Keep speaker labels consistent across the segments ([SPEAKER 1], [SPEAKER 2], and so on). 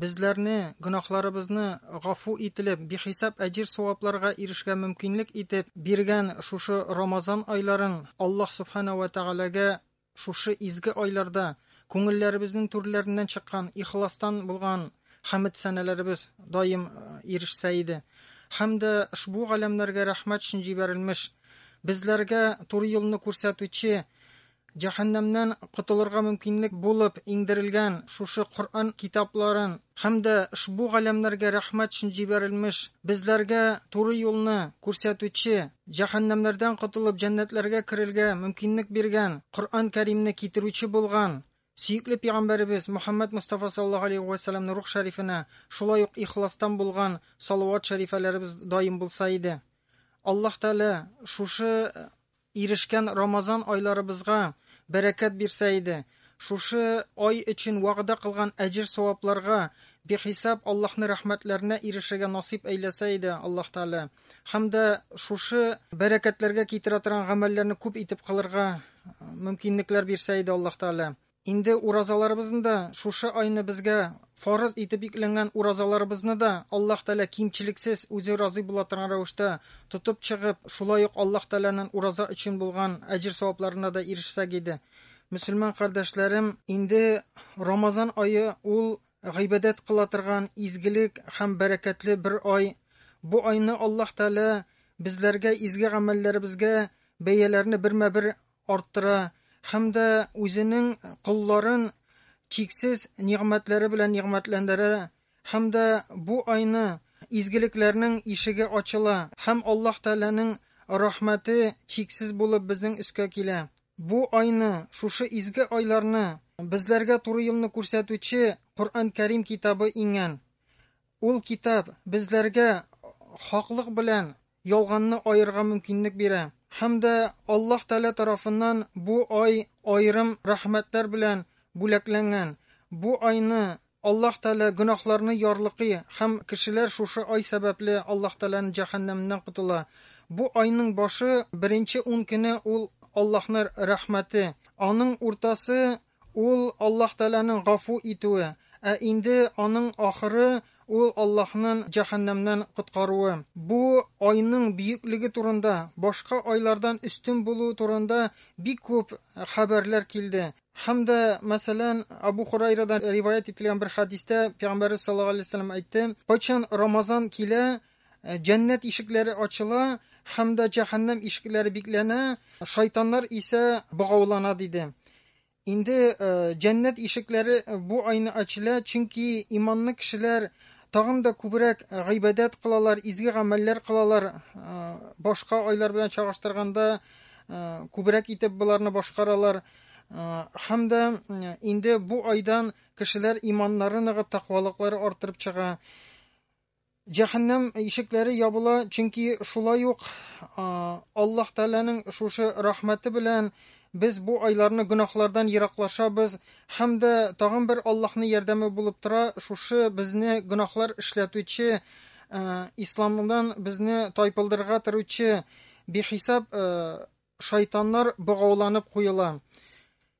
[SPEAKER 1] Безләрне, гөнаһларыбызны гафу ителеп, бихисап әҗир-савапларга ирешкә мөмкинлек итеп биргән шушы Рамазан айларын Аллаһ Сүбхәнәһү вә Тәгаләгә шушы изге айларда күңелләребезнең түрләреннән чыккан ихластан булган хәмд-сәналәребез даим ирешсә иде. Һәм дә шбу галәмнәргә рәхмәт өчен җибәрелмеш, безләргә туры юлны күрсәтүче Җәһәннәмнән котылырга мөмкинлек булып иңдерелгән шушы Коръән китапларын һәм дә ошбу галәмнәргә рәхмәт өчен җибәрелмеш, безләргә туры юлны күрсәтүче, җәһәннәмнәрдән котылып җәннәтләргә керергә мөмкинлек биргән Коръән Кәримне китерүче булган сөекле пигамбәребез Мөхәммәд Мостафа саллаллаһу алейһи вә сәлләмнең рух шәрифенә шулай ук ихластан булган салават шәрифәләребез даим булса иде. Аллаһ Тәгалә шушы Ирешкән Рамазан айларыбызга бәрәкәт бирсә иде! Шушы ай өчен вәгъдә кылган әҗер-савапларга, бихисап Аллаһны рәхмәтләренә ирешергә насыйп әйләсә иде Аллаһ Тәгалә! Һәм дә шушы бәрәкәтләргә китерә торган гамәлләрне күп итеп кылырга мөмкинлекләр бирсә иде Аллаһ Тәгалә! Инде уразаларыбызны да, шушы айны безгә фарыз итеп йөкләнгән уразаларыбызны да Аллаһ Тәгалә кимчелексез, үзе разый була торган рәвештә тотып чыгып, шулай ук Аллаһ Тәгаләнең ураза өчен булган әҗер-савапларына да ирешсәк иде. Мөселман кардәшләрем, инде Рамазан ае ул гыйбадәт кыла торган изгелек һәм бәрәкәтле бер ай. Бу айны Аллаһ Тәгалә безләргә изге гамәлләребезгә бәяләрне бермә-бер арттыра һәм дә үзенең колларын чиксез нигъмәтләре белән нигъмәтләндерә һәм дә бу айны изгелекләрнең ишеге ачыла һәм Аллаһ Тәгаләнең рәхмәте чиксез булып безнең өскә килә. Бу айны, шушы изге айларны безләргә туры юлны күрсәтүче Коръән Кәрим китабы иңгән. Ул китап безләргә хаклык белән ялганны аерырга мөмкинлек бирә. Һәм дә Аллаһ Тәгалә тарафыннан бу ай аерым рәхмәтләр белән бүләкләнгән. Бу айны Аллаһ Тәгалә гөнаһларны ярлыкый һәм кешеләр шушы ай сәбәпле Аллаһ Тәгаләнең җәһәннәменнән котыла. Бу айның башы, беренче ун көне ул Аллаһның рәхмәте, аның уртасы, Ул, Аллаһ Тәгаләнең гафу итүе, ә инде аның ахыры, ул Аллаһнын җәһәннәмнән коткаруы. Бу айның бөеклеге турында, башка айлардан өстен булуы турында бик күп хәбәрләр килде. Һәм дә, мәсәлән, Абу Хурайрадан риваять ителгән бер хәдистә Пәйгамбәребез саллаллаһу галәйһи ва сәлләм әйтте, Кайчан Рамазан килә, Э, Җәннәт ишекләре ачыла һәм дә җәһәннәм ишекләре бикләнә, шайтаннар исә богаулана диде. Инде э, җәннәт ишекләре бу айны ачыла, чөнки иманлы кешеләр тагын да күбрәк э, гыйбадәт кылалар, изге гамәлләр кылалар. Э, башка айлар белән чагыштырганда э, күбрәк итеп боларны башкаралар. Һәм дә инде бу айдан кешеләр иманнары ныгып, тәкъвалыклары артырып чыга. Җәһәннәм ишекләре ябыла, чөнки шулай ук Аллаһ Тәгаләнең шушы рәхмәте белән без бу айларны гөнаһлардан ераклашабыз һәм дә тагын бер Аллаһның ярдәме булып тора, шушы безне гөнаһлар эшләтүче, исламдан безне тайпылдырырга торучы бихисап шайтаннар богауланып куела.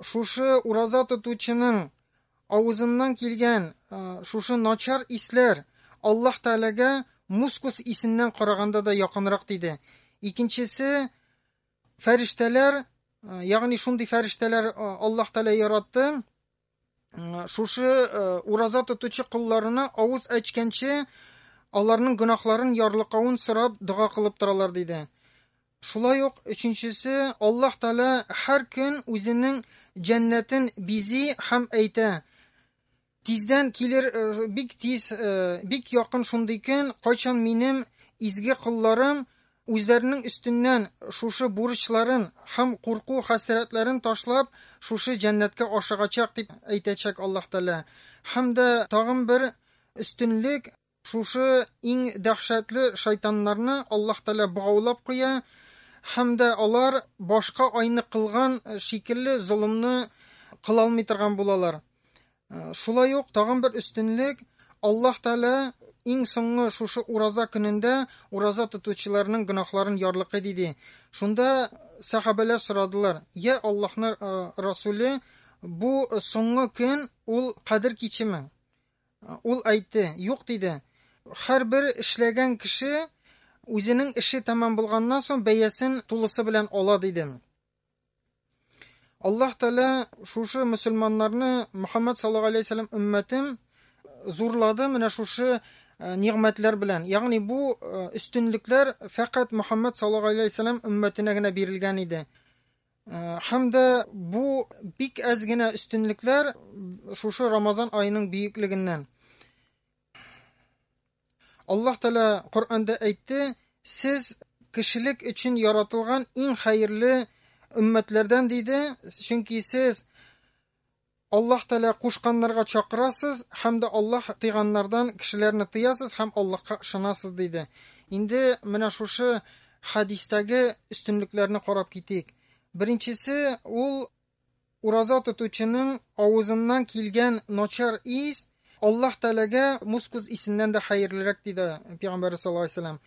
[SPEAKER 1] Шушы ураза тотучының авызыннан килгән шушы начар исләр Аллаһ Тәгаләгә мускус исеннән караганда да якынрак диде. Икенчесе фәрештәләр, ягъни шундый фәрештәләр Аллаһ Тәгалә яратты, шушы ураза тотучы кулларына авыз әчкәнче аларның гөнаһларын ярлыкавын сорап дога кылып торалар диде. Шулай ук өченчесе, Аллаһ Тәгалә һәр көн үзенең җәннәтен бизи һәм әйтә, Тиздән килер, э, бик тиз, э, бик якын шундый көн, кайчан минем изге кулларым үзләренең өстеннән шушы бурычларын һәм курку хәсрәтләрен ташлап, шушы җәннәткә ашыгачак дип әйтәчәк Аллаһ Тәгалә. Һәм дә тагын бер өстенлек, Шушы иң дәһшәтле шайтаннарны Аллаһ Тәгалә богаулап куя һәм дә алар башка айны кылган шикелле золымны кыла алмый торган булалар. Шулай ук тагын бер өстенлек Аллаһ Тәгалә иң соңгы шушы ураза көнендә ураза тотучыларның гөнаһларын ярлыкый диде. Шунда сәхабәләр сорадылар: "Я Аллаһның Расуле, бу соңгы көн ул Кадер кичеме?" Ул әйтте, Юк, диде. Һәрбер эшләгән кеше үзенең эше тәмам булганнан соң бәясен тулысы белән ала, диде. Аллаһ Тәгалә шушы мөселманнарны Мөхәммәд саллаллаху алейһи вәсәлләм өммәтен зурлады менә шушы э, нигъмәтләр белән. Ягъни бу э, өстенлекләр фәкать Мөхәммәд саллаллаху алейһи вәсәлләм өммәтенә генә бирелгән иде. Һәм дә бу бик әз генә өстенлекләр шушы Рамазан айының бөеклегеннән. Аллаһ Таала Коръәндә әйтте, сез кешелек өчен яратылган иң хәерле өммәтләрдән диде, чөнки сез Аллаһ Тәгалә кушканнарга чакырасыз һәм дә Аллаһ тыйганнардан кешеләрне тыясыз һәм Аллаһка ышанасыз, диде. Инде менә шушы хәдистәге өстенлекләрне карап китик. Беренчесе ул ураза тотучының авызыннан килгән начар ис Аллаһ Тәгаләгә мускус исеннән дә хәерлерәк, диде Пәйгамбәр саллаллаһу алейһи ва сәлләм.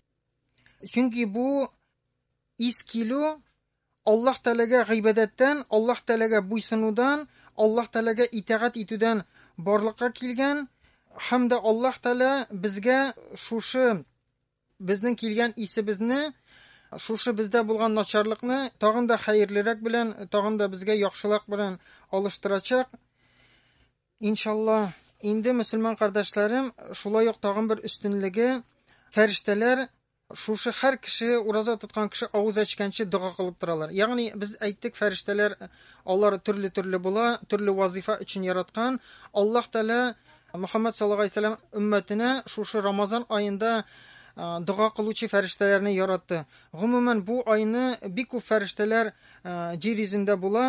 [SPEAKER 1] Чөнки бу Ис килү, Аллаһ Тәгаләгә гыйбадәттән, Аллаһ Тәгаләгә буйсынудан, Аллаһ Тәгаләгә итагать итүдән барлыкка килгән һәм дә Аллаһ Тәгалә безгә шушы безнең килгән исебезне, шушы бездә булган начарлыкны тагын да хәерлерәк белән, тагын да безгә яхшылык белән алыштырачак. Иншаллаһ, инде мөселман кардәшләрем, шулай ук тагын бер өстенлеге, фәрештәләр Шушы һәр кеше, ураза тоткан кеше авыз ачканчы дога кылып торалар. Ягъни без әйттек, фәрештәләр алар төрле-төрле була, төрле вазифа өчен яраткан. Аллаһ Тәгалә Мөхәммәд саллаллаху алейһи вәсәлләм өммәтенә шушы Рамазан аенда дога кылучы фәрештәләрне яратты. Гомумән бу айны бик күп фәрештәләр җир йөзендә була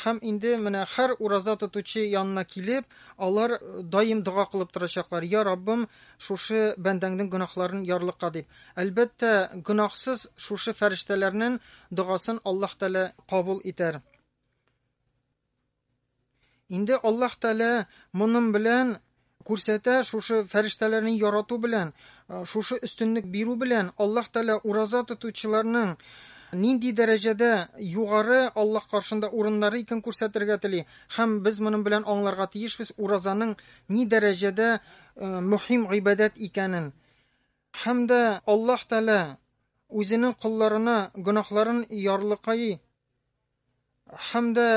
[SPEAKER 1] һәм инде менә һәр ураза тотучы янына килеп, алар даим дога кылып торачаклар. Я Раббым, Шушы бәндәңнең гөнаһларын ярлыка дип. Әлбәттә, гөнаһсыз шушы фәрештәләрнең догасын Аллаһ Тәлә кабул итәр. Инде Аллаһ Тәлә моның белән күрсәтә шушы фәрештәләрне ярату белән шушы өстенлек бирү белән аллаһ тәлә ураза тотучыларның нинди дәрәҗәдә югары аллаһ каршында урыннары икән күрсәтергә тели һәм без моның белән аңларга тиешбез уразаның ни дәрәҗәдә мөһим гыйбадәт икәнен һәм дә Аллаһ Тәгалә үзенең колларына гөнаһларын ярлыкайы һәм дә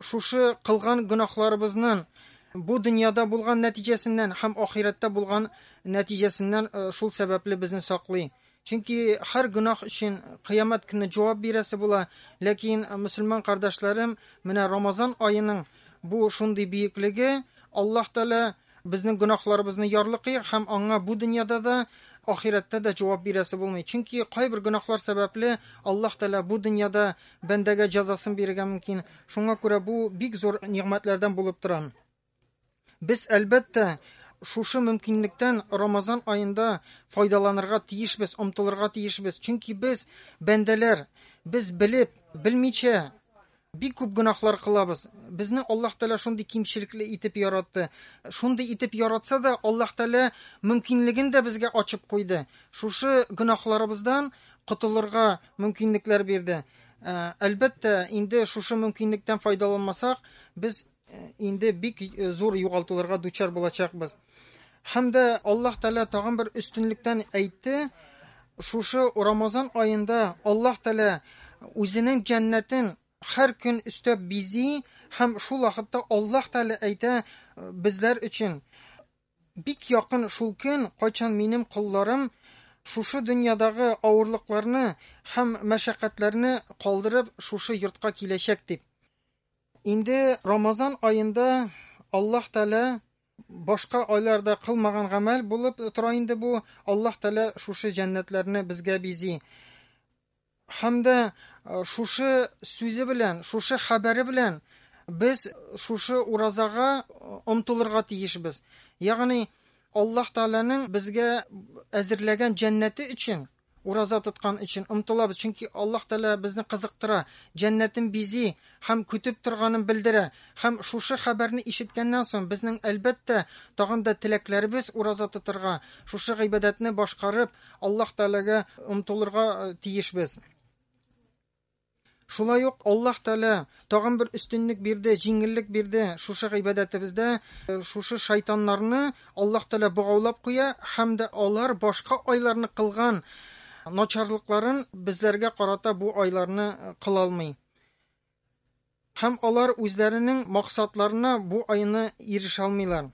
[SPEAKER 1] шушы кылган гөнаһларыбызның бу дөньяда булган нәтиҗәсеннән һәм ахирәттә булган нәтиҗәсеннән э, шул сәбәпле безне саклый. Чөнки һәр гөнаһ өчен кыямәт көне җавап бирәсе була, ләкин э, мөселман кардәшләрем, менә Рамазан аеның бу шундый бөеклеге, Аллаһ Тәгалә Безнең гөнаһларыбызны ярлыкый һәм аңа бу дөньяда да, ахирәттә дә җавап бирәсе булмый. Чөнки кайбер гөнаһлар сәбәпле Аллаһ Тәгалә бу дөньяда бәндәгә җәзасын бирергә мөмкин. Шуңа күрә бу бик зур нигъмәтләрдән булып тора. Без, әлбәттә, шушы мөмкинлектән Рамазан аенда файдаланырга тиешбез, омтылырга тиешбез. Чөнки без, бәндәләр, без белеп, белмичә Бик күп гөнаһлар кылабыз. Безне Аллаһ Тәгалә шундый кимчелекле итеп яратты. Шундый итеп яратса да, Аллаһ Тәгалә мөмкинлеген дә безгә ачып куйды. Шушы гөнаһларыбыздан котылырга мөмкинлекләр бирде. Әлбәттә, инде шушы мөмкинлектән файдаланмасак, без Инде бик зур югалтуларга дучар булачакбыз. Һәм дә Аллаһ Тәала тагын бер өстенлектән әйтте, шушы Рамазан аенда Аллаһ Тәала үзенең җәннәтен һәр көн өстәп бизи һәм шул вакытта Аллаһ Тәала әйтә э, безләр өчен бик якын шул көн, кайчан минем колларым шушы дөньядагы авырлыкларны һәм мәшәкатьләрне калдырып шушы йортка киләчәк дип. Инде Рамазан аенда Аллаһ Тәгалә башка айларда кылмаган гамәл булып тора инде бу. Аллаһ Тәгалә шушы җәннәтләрне безгә бизи. Һәм дә э, шушы сүзе белән, шушы хәбәре белән без шушы уразага омтылырга э, тиешбез. Ягъни Аллаһ Тәгаләнең безгә әзерләгән җәннәте өчен Ураза тоткан өчен омтылабыз, чөнки Аллаһ Тәгалә безне кызыктыра, җәннәтен бизи һәм көтеп торганын белдерә. Һәм шушы хәбәрне ишеткәннән соң, безнең, әлбәттә, тагын да теләкләребез ураза тотырга, шушы гыйбадәтне башкарып, Аллаһ Тәгаләгә омтылырга тиешбез. Шулай ук Аллаһ Тәгалә тагын бер өстенлек бирде, җиңеллек бирде. Шушы гыйбадәтебездә шушы шайтаннарны Аллаһ Тәгалә богаулап куя һәм дә алар башка айларны кылган начарлыкларын безләргә карата бу айларны кыла алмый. Һәм алар үзләренең максатларына бу айны ирешә алмыйлар.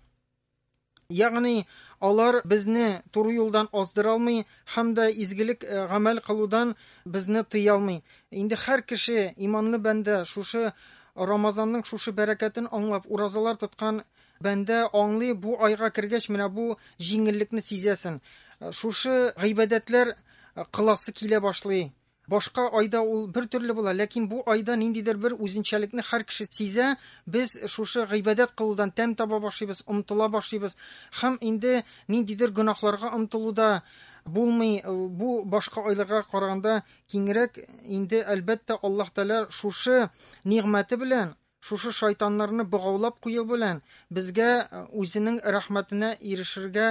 [SPEAKER 1] Ягъни, алар безне туры юлдан аздыра алмый һәм дә изгелек э, гамәл кылудан безне тыя алмый. Инде һәр кеше, иманлы бәндә, шушы Рамазанның шушы бәрәкәтен аңлап, уразалар тоткан бәндә аңлый, бу айга кергәч менә бу җиңеллекне сизәсен. Э, шушы гыйбадәтләр э, кыласы килә башлый. Башка айда ул бер төрле була, ләкин бу айда ниндидер бер үзенчәлекне һәр кеше сизә, без шушы гыйбадәт кылудан тәм таба башлыйбыз, омтыла башлыйбыз һәм инде ниндидер гөнаһларга омтылу да булмый, бу башка айларга караганда киңрәк, инде, әлбәттә, Аллаһ Тәгалә шушы нигъмәте белән, шушы шайтаннарны богаулап кую белән безгә үзенең рәхмәтенә ирешергә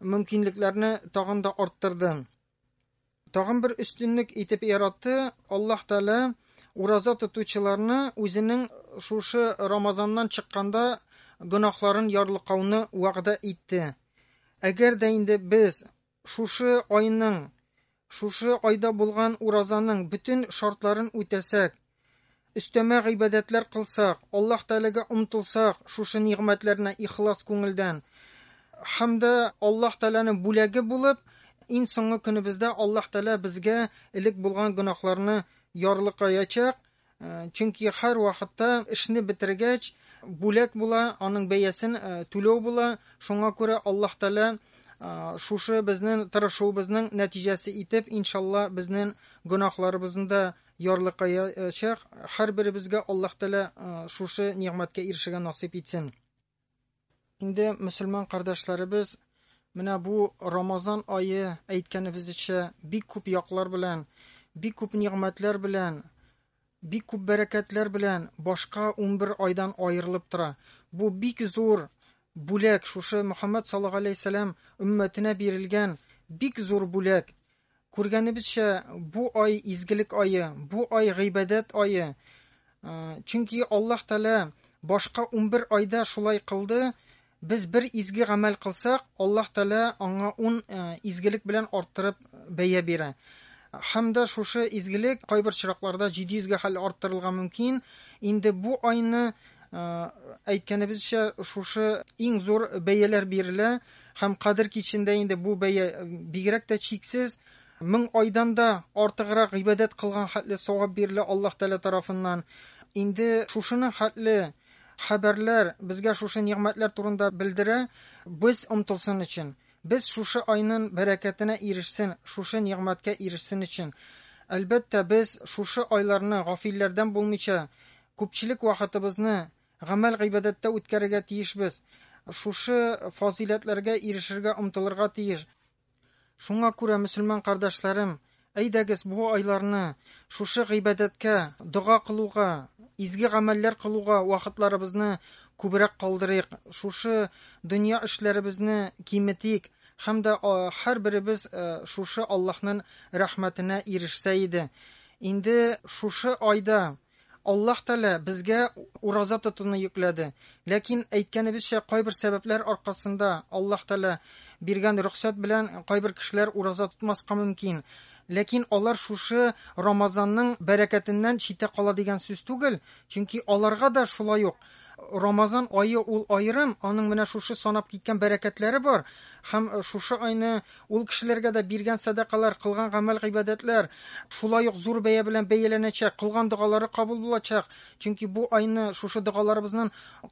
[SPEAKER 1] мөмкинлекләрне тагын да арттырды. Тагын бер өстенлек итеп яратты, Аллаһ Тәгалә ураза тотучыларны үзенең шушы Рамазаннан чыкканда гөнаһларын ярлыкауны вәгъдә итте. Әгәр дә инде без шушы айның, шушы айда булган уразаның бөтен шартларын үтәсәк, Өстәмә гыйбадәтләр кылсак, Аллаһ Тәгаләгә омтылсак, шушы нигъмәтләрне ихлас күңелдән һәм дә Аллаһ Тәгаләнең бүләге булып, иң соңгы көнебездә Аллаһ Тәгалә безгә элек булган гөнаһларны ярлыкаячак, э, чөнки һәр вакытта эшне бетергәч, бүләк була, аның бәясен э, түләү була, шуңа күрә Аллаһ Тәгалә шушы безнең тырышуыбызның нәтиҗәсе итеп, иншалла, безнең гөнаһларыбызны да ярлыкаячак. Һәрберебезгә Аллаһ Тәгалә шушы нигъмәткә ирешергә насыйп итсен. Инде мөселман кардәшләребез менә бу Рамазан айы әйткәнебезчә бик күп яклар белән, бик күп нигъмәтләр белән, бик күп бәрәкәтләр белән башка 11 айдан аерылып тора. Бу бик зур бүләк, шушы Мөхәммәд саллаллаһу алейһи ва сәллям өммәтенә бирелгән бик зур бүләк. Күргәнебезчә, бу ай изгелек ае, бу ай гыйбадәт ае. Чөнки Аллаһ Тәгалә башка 11 айда шулай кылды. Без бер изге гамәл кылсак, Аллаһ Тәгалә аңа 10 изгелек белән арттырып бәя бирә. Һәм дә шушы изгелек кайбер чиракларда 700 гә хәл арттырылга мөмкин. Инде бу айны әйткәнебезчә шушы иң зур бәяләр бирелә. Һәм Кадер кичендә инде бу бәя бигрәк тә чиксез, мең айдан да артыграк гыйбадәт кылган хәтле савап бирелә Аллаһ Тәгалә тарафыннан. Инде шушының хәтле хәбәрләр безгә шушы нигъмәтләр турында белдерә, без омтылсын өчен, без шушы айнын бәрәкәтенә ирешсен, шушы нигъмәткә ирешсен өчен. Әлбәттә, без шушы айларны гафилләрдән булмыйча, күпчелек вакытыбызны Гамәл-гыйбадәттә үткәрергә тиешбез. Шушы фазыйләтләргә ирешергә омтылырга тиеш. Шуңа күрә, мөселман кардәшләрем, әйдәгез, бу айларны шушы гыйбадәткә, дога кылуга, изге гамәлләр кылуга вакытларыбызны күбрәк калдырыйк, шушы дөнья эшләребезне киметик һәм дә һәрберебез шушы Аллаһның рәхмәтенә ирешсә иде. Инде шушы айда Аллаһ Тәгалә безгә ураза тотуны йөкләде. Ләкин, әйткәнебезчә, кайбер сәбәпләр аркасында Аллаһ Тәгалә биргән рөхсәт белән кайбер кешеләр ураза тотмаска мөмкин. Ләкин алар шушы Рамазанның бәрәкәтеннән читтә кала дигән сүз түгел, чөнки аларга да шулай ук Рамазан ае ул аерым, аның менә шушы санап киткән бәрәкәтләре бар, һәм шушы айны ул кешеләргә дә биргән сәдакалар, кылган гамәл-гыйбадәтләр шулай ук зур бәя белән бәяләнәчәк, кылган догалары кабул булачак, чөнки бу айны шушы догаларыбызнын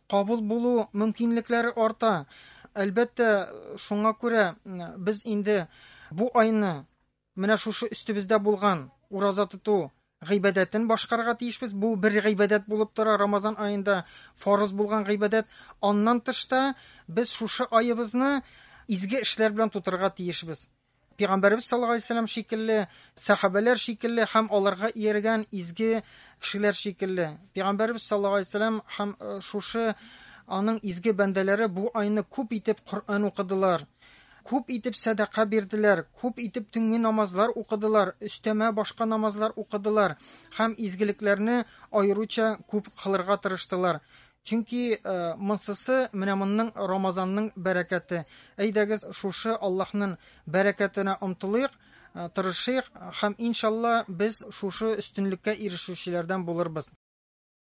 [SPEAKER 1] кабул булу мөмкинлекләре арта. Әлбәттә, шуңа күрә без инде бу айны, Менә шушы өстебездә булган ураза тоту гыйбадәтен башкарырга тиешбез. Бу бер гыйбадәт булып тора, Рамазан аенда фарыз булган гыйбадәт. Аннан тыш та без шушы аебызны изге эшләр белән тутырырга тиешбез. Пигамбәребез саллаллаһу алейһи вәсәлләм шикелле, сәхабәләр шикелле һәм аларга ияргән изге кешеләр шикелле. Пигамбәребез саллаллаһу алейһи вәсәлләм һәм э, шушы аның изге бәндәләре бу айны күп итеп Коръән укыдылар. Күп итеп сәдака бирделәр, күп итеп төнге намазлар укыдылар, өстәмә башка намазлар укыдылар һәм изгелекләрне аеруча күп кылырга тырыштылар. Чөнки э, монсысы менә монның Рамазанның бәрәкәте. Әйдәгез, шушы Аллаһның бәрәкәтенә омтылыйк, э, тырышыйк һәм иншалла без шушы өстенлеккә ирешүчеләрдән булырбыз.